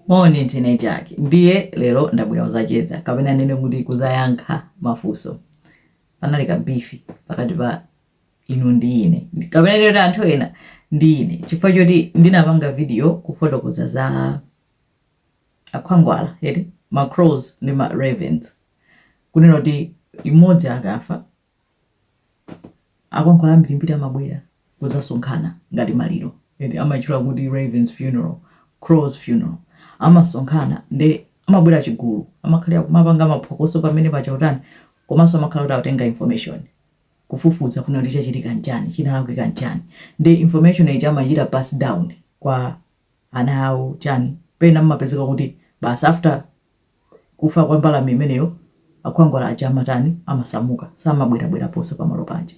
Moni ndine Jack ndiye lero ndabwera kuzacheza kapena ndinene kuti kuzayankha mafunso. Panali ka beef pakati pa inu ndi ine kapena ndinene kuti anthu ena ndi ine chifukwa choti ndinapanga video kufotokoza za akhwangwala eti, ma crows ndi ma ravens, kunena kuti imodzi akafa Akhwangwala ambirimbiri amabwera kudzasonkhana ngati maliro eti amaitchula kuti Ravens funeral, Crows funeral. Amasonkhana nde amabwera chigulu amakhalira kumapanga maphokoso pamene paja kutani komanso amakhala kuti akutenga information kufufuza kuona kuti chachitika nchani chinalakwika nchani nde information ija amaichita pass down kwa ana awo chani pena mmapezeka kuti basi after kufa kwa mbalame imeneyo akhwangwala aja amatani amasamuka samabwerabweraponso pamalo paja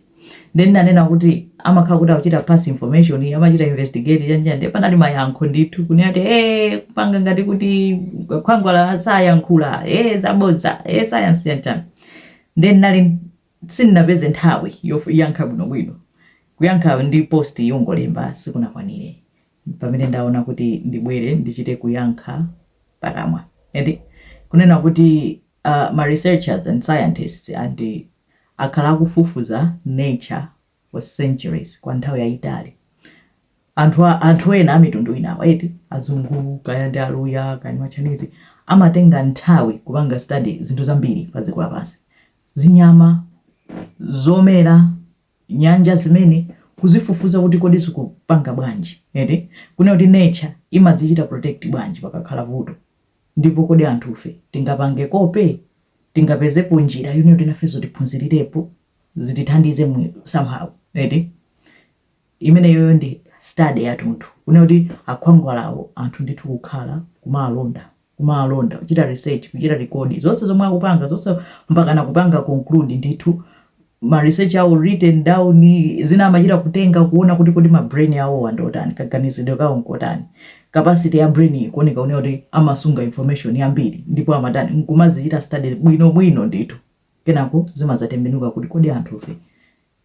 ndiye ndinanena kuti amakhala kuti akuchita pass information amachita investigate chanjani ndiye panali mayankho ndithu kunena kuti ee kupanga ngati kuti akhwangwala sayankhula ee zabodza ee sayansi chanjani ndiye ndinali sindinapeze nthawi yoyankha bwinobwino kuyankha ndi post yongolemba sikunakwanire pamene ndaona kuti ndibwere ndichite kuyankha pakamwa eti kunena kuti uh, ma researchers and scientists ani akhala akufufuza nature for centuries kwa nthawi yayitali anthu ena amitundu inawa eti azungu kaya ndi aluya kaya ndi machanizi amatenga nthawi kupanga study zinthu zambiri pa dziko lapansi zinyama zomera nyanja zimene kuzifufuza kuti kodi zikupanga bwanji eti kunena kuti nature imadzichita protect bwanji pakakhala vuto ndipo kodi anthufe tingapange kope tingapezepo njira yonena kuti nafenso tiphunzirirepo zitithandize mu somehow eti imeneyoyo ndi study yathunthu kunena kuti akhwangwalawo anthu ndithu kukhala kumawalonda kumawalonda, kuchita research, kuchita record zonse zomwe akupanga, zonse mpakana kupanga conclude ndithu ma research awo written down, zina amachita kutenga kuona kuti kodi ma brain awowo ndi otani, kaganizidwe kawo nkotani, capacity ya brain ikuoneka oneka kuti amasunga information yambiri ndipo amatani, nkumazichita study bwinobwino ndithu, kenako zimadzatembenuka kuti kodi anthufe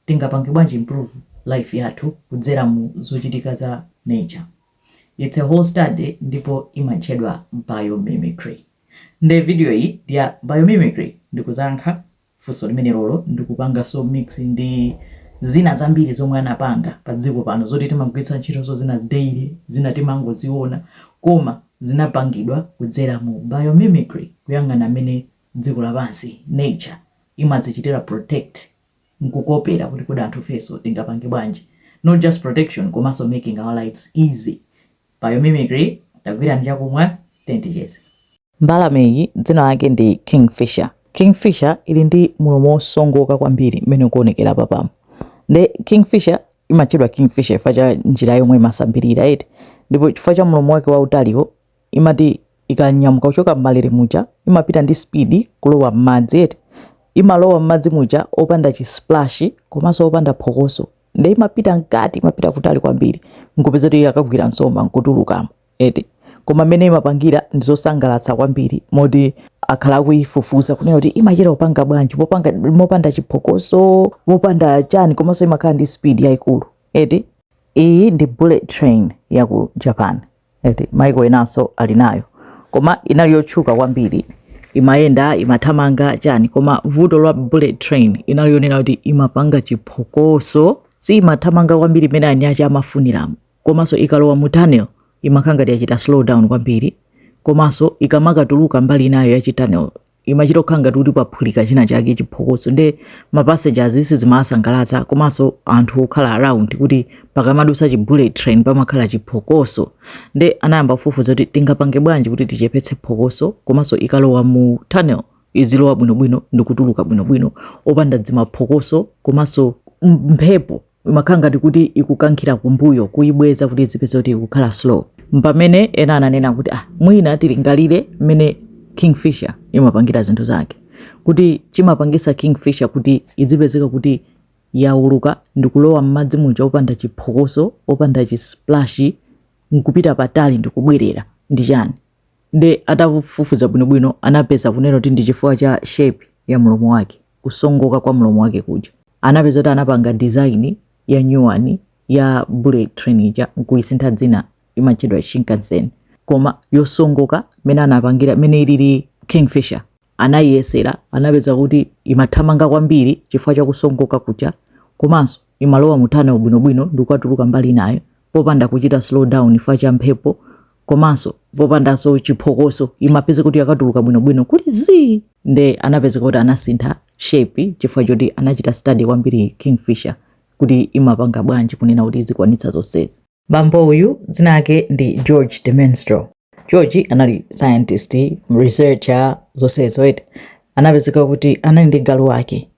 Tingapange bwanji improve life yathu kudzera mu zochitika za nature? Its a whole study ndipo imatchedwa biomimicry. Nde video iyi ndi ya biomimicry ndikuzayankha funso limenelolo ndikupangaso mix ndi zina zambiri zomwe anapanga pa dziko pano zoti timagwiritsa ntchitoso zina daily zina timangoziona koma zinapangidwa kudzera mu biomimicry kuyang'ana mmene dziko lapansi, nature, imadzichitira protect. nkukopera kuti kodi anthufeso tingapange bwanji not just protection komaso making our lives easy biomimicry tagwirani chakumwa tiyeni ticheze. Mbalameyi dzina lake ndi Kingfisher. Kingfisher ili ndi mulomo wosongoka kwambiri mmene ukuonekera apapamu. Nde Kingfisher imatchedwa Kingfisher chifukwa cha njira yomwe imasambirira eti. Ndipo chifukwa cha mulomo wake wautaliwo imati ikanyamuka kuchoka mmalere muja imapita ndi speed kulowa mmadzi eti imalowa mmadzi muja opanda chi splash komanso opanda phokoso nde imapita mkati imapita kutali kwambiri nkupeza kuti akagwira nsomba nkutulukamo eti koma mmene imapangira ndi zosangalatsa kwambiri moti akhala akuifufuza kunena kuti imachita kupanga bwanji mopanda chiphokoso mopanda chani komanso imakhala ndi speed yaikulu eti iyi ndi bullet train ya ku japan eti maiko enanso ali nayo koma inali yotchuka kwambiri imayenda imathamanga chani koma vuto lwa bullet train inali yonena kuti imapanga chiphokoso si imathamanga kwambiri mmene eni ache amafuniramo komanso ikalowa mu tunnel imakhala ngati yachita slow down kwambiri komanso ikamakatuluka mbali inayo ya chitunnel imachita kukhala ngati kuti paphulika china chake chiphokoso nde ma passengers sizimawasangalatsa komanso anthu okhala around kuti pakamadusa chi bullet train pamakhala chiphokoso nde anayamba kufufuza kuti tingapange bwanji kuti tichepetse phokoso komanso ikalowa mu tunnel izilowa bwinobwino ndikutuluka bwinobwino opanda dzimaphokoso komanso mphepo imakhala ngati kuti ikukankhira kumbuyo kuyibweza kuti izipezeka kuti ikukhala slow mpamene ena ananena kuti ah, mwina tilingalire mmene kingfisher imapangira zinthu zake kuti chimapangisa kingfisher kuti idzipezeka kuti yauluka ndikulowa mmadzi muja opanda chiphokoso opanda chisplash nkupita patali ndikubwerera ndi chani nde atafufuza bwinobwino anapeza kunena kuti ndi chifukwa cha shape ya mlomo wake kusongoka kwa mlomo wake kuja anapeza kuti anapanga design ya nyuwani ya bullet train ija nkuisintha dzina imatchedwa shinkansen koma yosongoka mene anapangira mene ilili kingfisher anayiyesera anapeza kuti imathamanga kwambiri chifukwa cha kusongoka kuja komanso imalowa mu tunnel bwinobwino ndikukatuluka mbali inayo popanda kuchita slow down chifukwa cha mphepo komanso popandanso chiphokoso imapezeka kuti yakatuluka bwinobwino kuti zii nde anapezeka kuti anasintha shape chifukwa choti anachita study kwambiri kingfisher kuti imapanga bwanji kunena kuti izikwanitsa zonsezi bambo uyu dzina lake ndi george de mestral george anali scientist researcher zonsezo eti anapezeka kuti anali ndi galu wake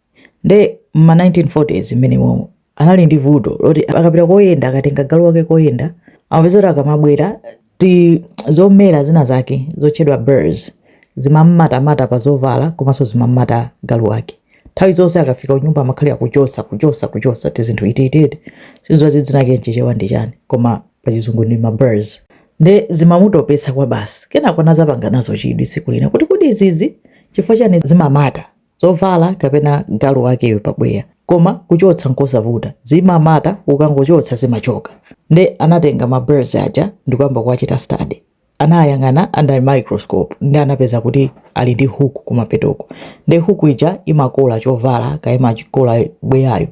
nde mma 1940s mmenemo anali ndi vuto loti akapita koyenda akatenga galu wake koyenda amapeza kuti akamabwera ti zomera zina zake zotchedwa burs zimamatamata pa zovala komanso zimamata galu wake nthawi zonse akafika kunyumba amakhalira kuchosa kuchosa kuchosa tizinthu itititi sindikudziwa dzinake mchichewa ndi chani koma pachizungu ndi maburs nde zimamutopesa kwa basi kenako anazapanga nazo chidwi siku lina kuti kodi izizi chifukwa chani zimamata zovala kapena galu wakeyo pabweya koma kuchotsa nkosavuta zimamata ukangochotsa zimachoka nde anatenga ma burs aja ndikuyamba kuwachita study anayang'ana under microscope ndi anapeza kuti ali ndi hook kumapetoko nde hook ija imakola chovala kaya imakola bweyayo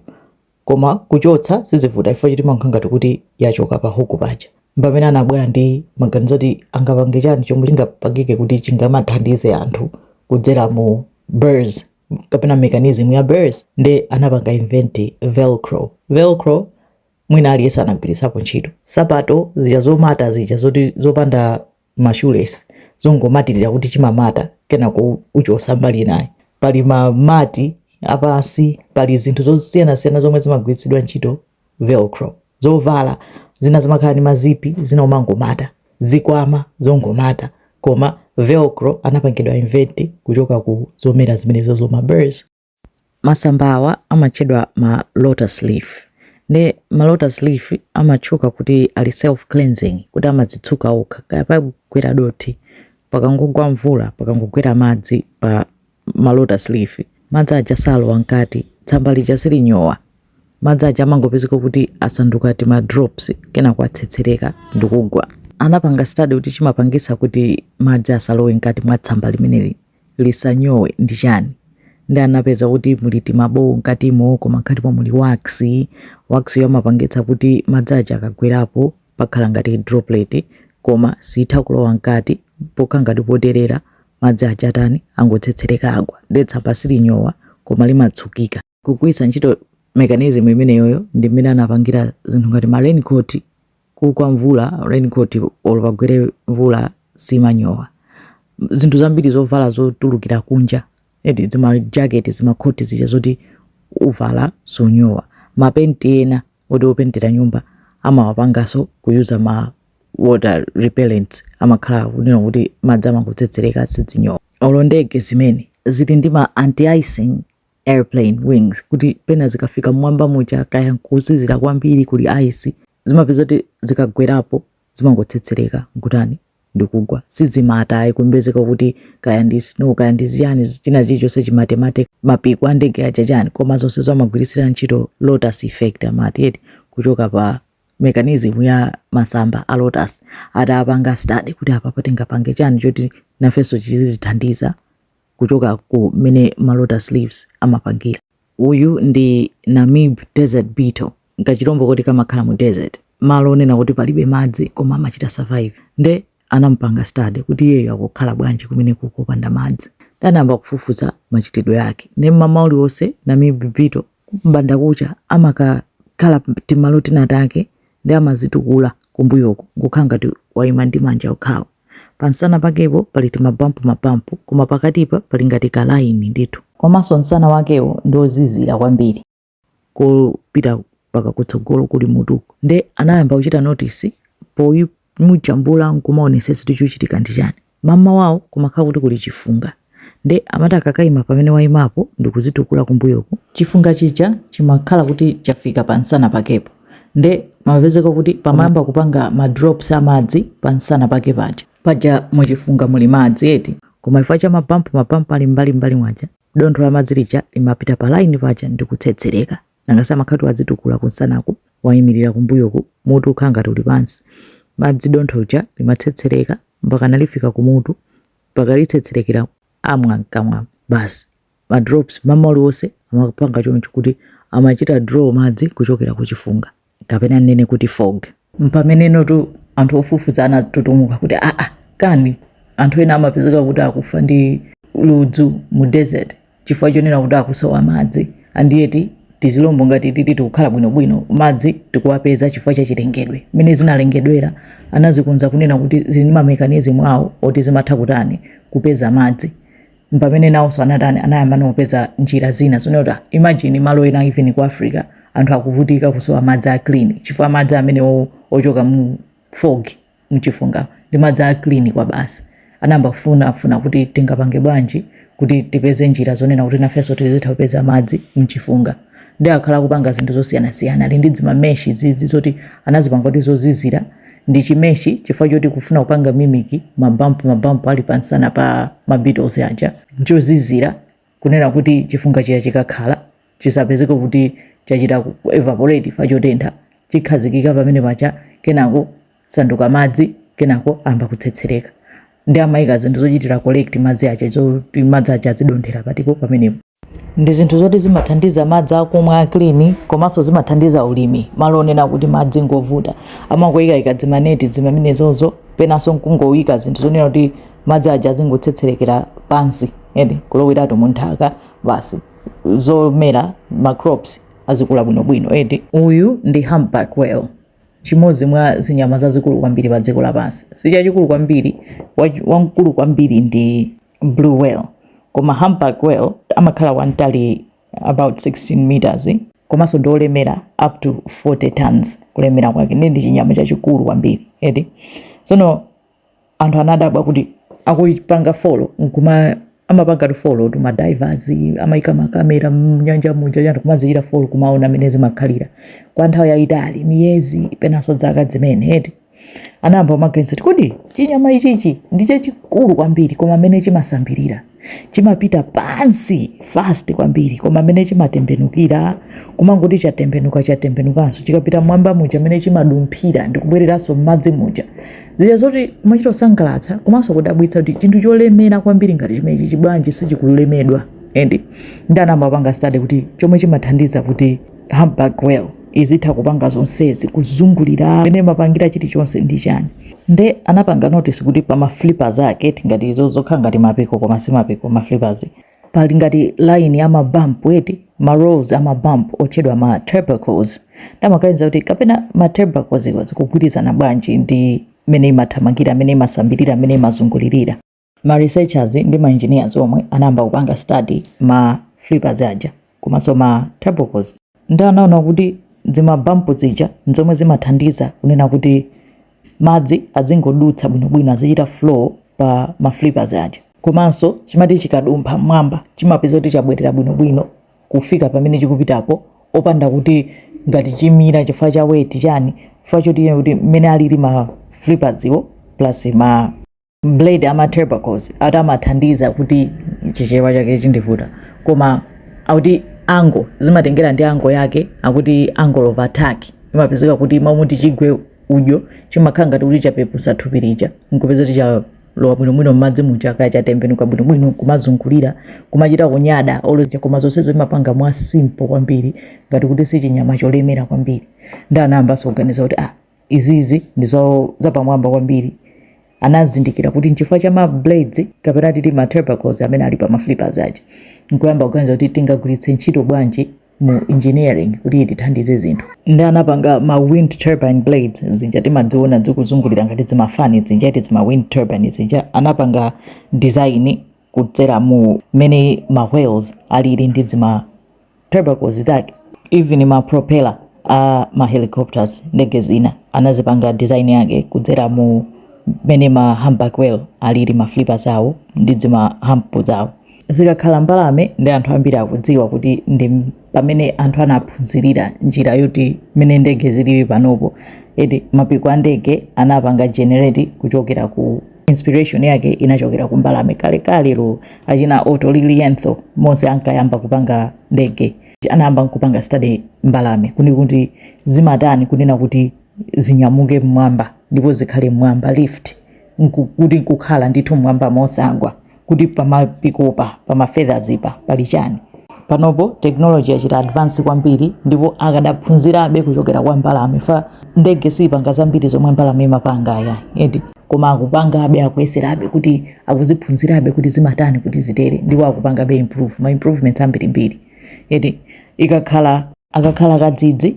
koma kuchotsa sizivuta chifukwa choti imakhala ngati kuti yachoka pa hook paja mpamene anabwera ndi maganizo oti angapange chani chomwe chingapangike kuti chingamathandize anthu kudzera mu burs kapena mechanism ya burs nde anapanga invent velcro velcro mwina aliyense anagwiritsapo ntchito sapato zija zomata zija zoti zopanda ma shoelace zongomatirira kuti chimamata kenako uchosa mbali inayi pali ma mati apansi pali zinthu zosiyanasiyana zomwe zimagwiritsidwa ntchito velcro zovala zina zimakhala ndi mazipi zina umangomata zikwama zongomata koma velcro anapangidwa invent kuchoka ku zomera zimenezo zoma burs Masamba awa amatchedwa ma lotus leaf nde ma lotus leaf amatchuka kuti ali self cleansing kuti amadzitsuka okha kaya pagwera dothi pakangogwa mvula pakangogwera madzi pa ma lotus leaf madzi aja salowa mkati tsamba lija silinyowa madzi aja amangopezeka kuti asanduka tima drops kenako atsetsereka ndikugwa anapanga study kuti chimapangisa kuti madzi asalowe mkati mwa tsamba limeneli lisanyowe ndi chani nde anapeza kuti muli timabowo mkatimo koma mkatimo muli wax, wax yo amapangitsa kuti madzi aja akagwerapo pakhala ngati droplet koma sitha kulowa mkati pokhala ngati poterera madzi aja atani angotsetsereka agwa nde tsamba silinyowa koma limatsukika. kugwiritsa ntchito mekanizmu imeneyoyo ndi mmene anapangira zinthu ngati ma raincoat kugwa mvula raincoat olo pagwere mvula simanyowa zinthu zambiri zovala zotulukira kunja eti zimajaketi zimakhoti zija zoti uvala sonyowa mapenti ena oti opentera nyumba amawapangaso kuyuza ma water repellents amakhala kunena kuti madzi amangotsetsereka sizinyowa olo ndege zimene zili ndi ma anti icing airplane wings kuti pena zikafika mmwamba muja kaya nkuzizira kwambiri kuli ice zimapeza kuti zikagwerapo zimangotsetsereka nkutani ndikugwa sizimata ayi kumapezeka kuti kaya ndi snow kaya ndi ziyani china chilichonse chimatemate mapiko a ndege aja chani koma zonse zomagwiritsira ntchito lotus effect amati eti kuchoka pa mechanism ya masamba a lotus atapanga study kuti apapa tingapange chani choti nafenso chizitithandiza kuchoka ku mmene ma lotus leaves amapangira. Uyu ndi Namib desert beetle, nkachilombo koti kamakhala mu desert, malo onena kuti palibe madzi koma amachita survive. Nde anampanga study kuti iyeyo akukhala bwanji kumeneku kopanda madzi. Nde anayamba kufufuza machitidwe ake. Nde m'mama uliwonse Namib beetle m'bandakucha amakakhala timalo tina take nde amazitukula kumbuyoku nkukhala ngati waima ndi manja okhawo. Pansana pakepo pali timabampu-mabampu, koma pakatipa pali ngati kalaini ndithu. Komanso nsana wakewo ndi wozizira kwambiri. kopita mpaka kutsogolo kuli mutuku. Nde anayamba kuchita notice poimujambula nkumaonesesa kuti chuchitika ndi chani. Mammawawo kumakhala kuti kuli chifunga. Nde amati akakayima pamene waimapo ndikuzitukula kumbuyoku, chifunga chija chimakhala kuti chafika pa nsana pakepo nde pamapezeka kuti pamayamba kupanga ma drops a madzi pa nsana pake paja, paja mu chifunga muli madzi eti, koma chifukwa cha ma bump ma bump ali m'mbali m'mbali mwaja dontho la madzi lija limapita pa line paja ndikutsetsereka, nanga si amakhala kuti wadzitukula ku nsanaku waimilira kumbuyoku mutu ukhala ngati uli pansi, madzi dontho lja limatsetsereka mpakana lifika kumutu mpaka litsetserekera mwa mkamwa basi ma drops mmawa uliwonse amapanga choncho kuti amachita draw madzi kuchokera kuchifunga kapena nnene kuti fog mpamenenotu anthu ofufuza anatutumuka kuti aa kani anthu ena amapezeka kuti akufa ndi ludzu mu desert chifukwa chonena kuti akusowa madzi and yet tizilombo ngati titi tikukhala bwinobwino madzi tikuwapeza chifukwa cha chilengedwe mmene zinalengedwera anazikonza kunena kuti zili ndi ma mechanism awo oti zimatha kutani kupeza madzi mpamene nawonso anatani anayamba kupeza njira zina zonena kuti ah, imagine malo ena even ku africa anthu akuvutika kusowa madzi a clean chifukwa madzi amene o- ochoka mu fog mchifunga ndi madzi a clean kwabasi. Anayamba kufuna funa kuti tingapange bwanji kuti tipeze njira zonena kuti nafenso tizitha kupeza madzi mchifunga. Nde akhala akupanga zinthu zosiyana siyana. Ali ndi zima mesh izizi zoti anazipanga kuti zozizira ndi chi mesh chifukwa choti kufuna kupanga mimic ma bump ma bump ali pa nsana pa ma beetles aja nchozizira. kunena kuti chifunga chija chikakhala chisapezeke kuti chachita evaporate chifukwa chotentha chikhazikika pamene pacha kenako sanduka madzi kenako amba kutsetsereka nde amayika zinthu zochitira collect madzi aja zoti madzi aja azidonthera patipo pamenepo ndi zinthu zoti zimathandiza madzi akumwa a clean komanso zimathandiza ulimi malo onena kuti madzi ngovuta amangoyikayika zimaneti zimamenezozo penanso nkungoyika zinthu zonena kuti madzi aja azingotsetserekera pansi eti kuloweratu mu nthaka basi zomera ma crops azikula bwinobwino eti uyu ndi humpback whale chimodzi mwa zinyama zazikulu kwambiri pa dziko lapansi sichachikulu kwambiri wachi- wamkulu kwambiri ndi blue whale koma humpback whale amakhala wamtali about 16 meters komanso ndi olemera up to 40 tons kulemera kwake ndi ndi chinyama chachikulu kwambiri eti tsono anthu anadabwa kuti akuipanga folo nkuma amapanga folo tu madivers amaika makamera mnyanja muja anthu kumazichita folo kumaona amene zimakhalira kwa nthawi yayitali miyezi penanso dzaka zimene eti anayamba maganizo kuti kodi chinyama ichichi ndi chachikulu kwambiri koma mmene chimasambirira chimapita pansi fast kwambiri koma mmene chimatembenukira kumangoti chatembenuka chatembenukanso chikapita mwamba muja mmene chimadumphira ndikubwereranso m'madzi muja zija zoti kumachita kusangalatsa komanso kudabwitsa kuti chinthu cholemera kwambiri ngati chimenechichi bwanji sichikulemedwa and nde anayamba kupanga study kuti chomwe chimathandiza kuti humpback whale izitha kupanga zonsezi kuzungulira mmene imapangira chilichonse ndi chani nde anapanga notice kuti pa maflippers ake tingati izo zokhala ngati mapiko koma si mapiko maflippers pali ngati line ya mabump eti ma rows ama bump otchedwa ma tubercles nde amaganiza kuti kapena ma tubercles iwo zikugwirizana bwanji ndi mene imathamangira mene imasambirira mene imazungulirira ma researchers ndi ma engineers omwe anayamba kupanga study ma flippers aja komanso ma tubercles nde anaona kuti zimabampu zija nzomwe zimathandiza kunena kuti madzi azingodutsa bwinobwino azichita flow pa ma flippers aja komanso chimati chikadumpha mmwamba chimapeza kuti chabwerera bwinobwino kufika pamene chikupitapo opanda kuti ngati chimira chifukwa cha weight chani chifukwa choti kuti mmene alili ma flippers iwo plus ma blade ama tubercles ati amathandiza kuti chichewa chake chindivuta koma akuti angle zimatengera ndi angle yake akuti angle of attack imapezeka kuti mmalo moti chigwe udyo chimakhala ngati kuti chapepusa thupi lija nkupeza kuti chalowa bwinobwino mmadzi muja kaya chatembenuka bwinobwino kumazungulira kumachita kunyada olozija koma zonsezo imapanga mwa simple kwambiri ngati kuti sichinyama cholemera kwambiri nde anayambanso kuganiza kuti ah izizi ndi zapamwamba kwambiri anazindikira kuti nchifukwa cha ma blades kapena titi ma tubercles amene ali pa ma flippers aja nkuyamba kuganiza kuti tingagwiritse ntchito bwanji mu engineering kuti itithandize zinthu ndi anapanga ma wind turbine blades zija timadziona zikuzungulira ngati zimafani zija eti zima wind turbine zija anapanga design kudzera mu mmene ma whales alili ndi zima tubercles zake even ma propeller a ma helicopters ndege zina anazipanga design yake kudzera mu mmene ma humpback whale alili ma flippers awo ndi zima hump zawo zikakhala mbalame ndi anthu ambiri akudziwa kuti ndi m- pamene anthu anaphunzirira njira yoti mmene ndege zilili panopo eti mapiko a ndege anapanga generate kuchokera ku Inspiration yake inachokera ku mbalame kalekalelo achina Otto Lilienthal monse ankayamba kupanga ndege anayamba nkupanga study mbalame kunena kuti zimatani kunena kuti zinyamuke mmwamba ndipo zikhale mmwamba lift nku- kuti nkukhala ndithu mmwamba mosagwa kuti pamapikopa pama feathers pa pali chani panopo technology yachita advance kwambiri ndipo akadaphunzirabe kuchokera kwa mbalame fa ndege siipanga zambiri zomwe mbalame imapanga aya eti koma akupangabe akuyeserabe kuti akuziphunzirabe kuti zimatani kuti zitere ndipo akupangabe improve ma improvements ambirimbiri eti ikakhala akakhala kadzidzi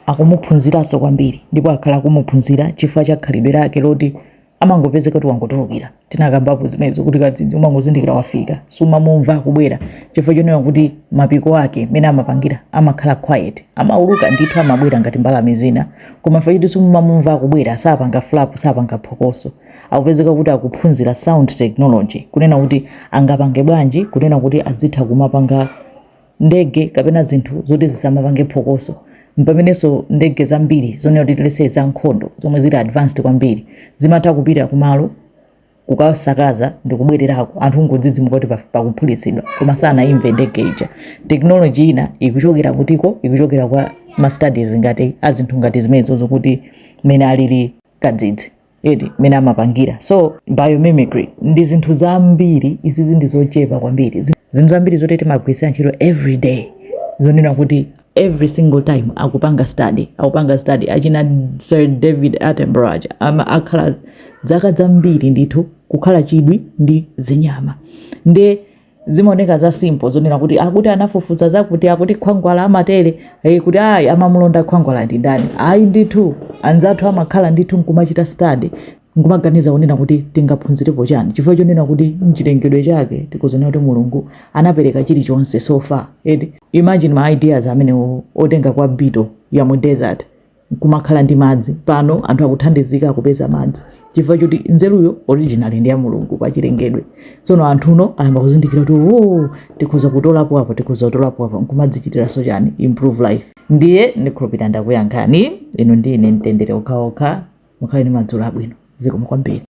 akumuphunziranso kwambiri ndipo akhala akumuphunzira chifukwa cha khalidwe lake loti amangopezeka kuti wangotulukira tinakambapo zimenezo kuti kadzidzi umangozindikira wafika sumamumva akubwera chifukwa chonena kuti mapiko ake mene amapangira amakhala quiet amauluka ndithu amabwera ngati mbalame zina koma chifukwa choti sumamumva akubwera sapanga flap sapanga phokoso akupezeka kuti akuphunzira sound technology kunena kuti angapange bwanji kunena kuti adzitha kumapanga ndege kapena zinthu zoti zisamapange phokoso. M'pamenenso ndege zambiri zonena kuti let's say zankhondo zomwe zili advanced kwambiri zimatha kupita kumalo kukasakaza ndi kubwererako anthu nkungodzidzimuka kuti paf- pakuphulitsidwa koma sanaimve ndege ija. Technology ina ikuchokera kutiko, ikuchokera kwa ma studies ngati a zinthu ngati zimenezo zokuti mmene alili kadzidzi. eti mmene amapangira so biomimicry ndi zinthu zambiri izizi ndi zochepa kwambiri Zi- zinthu zambiri zoti timagwiritsira ntchito every day zonena kuti every single time akupanga study akupanga study achina sir david attenborough aja ama akhala dzaka zambiri ndithu kukhala chidwi ndi zinyama nde Zimaoneka za simple zonena kuti akuti anafufuza zakuti akuti khwangwala amatere eh, kuti ayi amamulonda khwangwala ndi ndani. Ayi ndithu anzathu amakhala ndithu nkumachita study nkumaganiza kunena kuti tingaphunzirepo chani chifukwa chonena kuti mchilengedwe chake tikuona kuti mulungu anapereka chilichonse so far eti imagine ma ideas amene otenga kwa beetle ya mu desert nkumakhala ndi madzi pano anthu akuthandizika kupeza madzi chifukwa choti nzeruyo originally ndi ya mulungu pa chilengedwe tsono anthuno ayamba kuzindikira kuti o tikhoza kutolapo apo tikhoza kutolapo apo nkumadzichitiranso chani improve life ndiye ndikhulupirira ndakuyankhani ino ndi ine mtendere okhaokha mukhale ndi madzulo abwino zikomo kwambiri